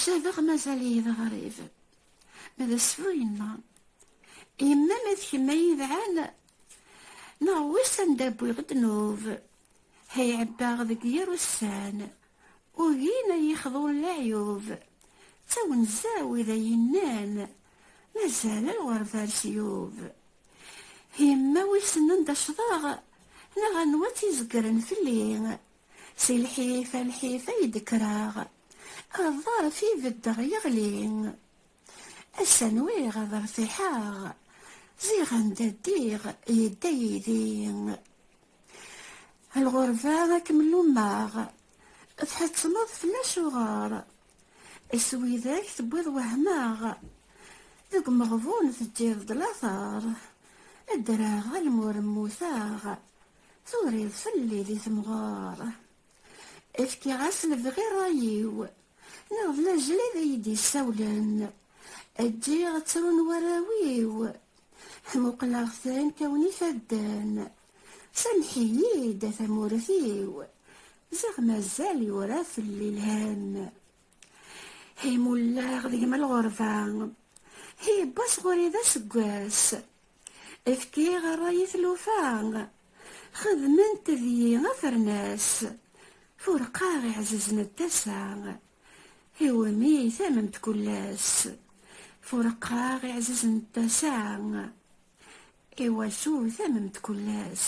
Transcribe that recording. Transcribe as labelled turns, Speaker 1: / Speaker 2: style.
Speaker 1: Cabeɣ mazal-iyi d aɣrib. Ma d asfu yemma. Yemma ma d kemm ay idɛan neɣ wiss anda wwiɣ ddnub. Hay ɛebbaɣ deg yir ussan. Ugin ay yexḍun leɛyub. D tawenza wid ay yennan mazal lɣerbar s yub. Yemma wissen anda cḍeɣ neɣ anwa tt-izegren fell-i. Si lḥif a lḥif ay d-kkreɣ, aḍarf i beddeɣ yeɣli. Ass-a nwiɣ ad rtiḥeɣ, ziɣ anda ddiɣ yedda yidi. Lɣerba ad kem-lummeɣ, tḥettmeḍ fell acuɣer. S widak tewwiḍ wehmeɣ, deg umeɣbun teǧǧiḍ-d lateṛ. Ddreɣ almur mmuteɣ, Turiḍ fell-i di temɣer. Efkiɣ-as lebɣi ṛṛay-iw. Neɣ d lajlid i yi-d-yessawlen. Ǧǧiɣ ttrun warraw-iw. Ḥmuqleɣ-ten kkawen ifadden. Samḥ-iyi-d a tamurt-iw. Ziɣ mazal yura fell-i lhemm. Hi mulleɣ deg-m lɣerba. Hi yewwa sɣur-i d aseggas. Efkiɣ ṛṛay i tlufa, xedment deg-i afernas, furqaɣ iɛzizen n tasa, iwumi tamment kull ass. Furqaɣ iɛzizen n tasa, iwacu tamment kull ass.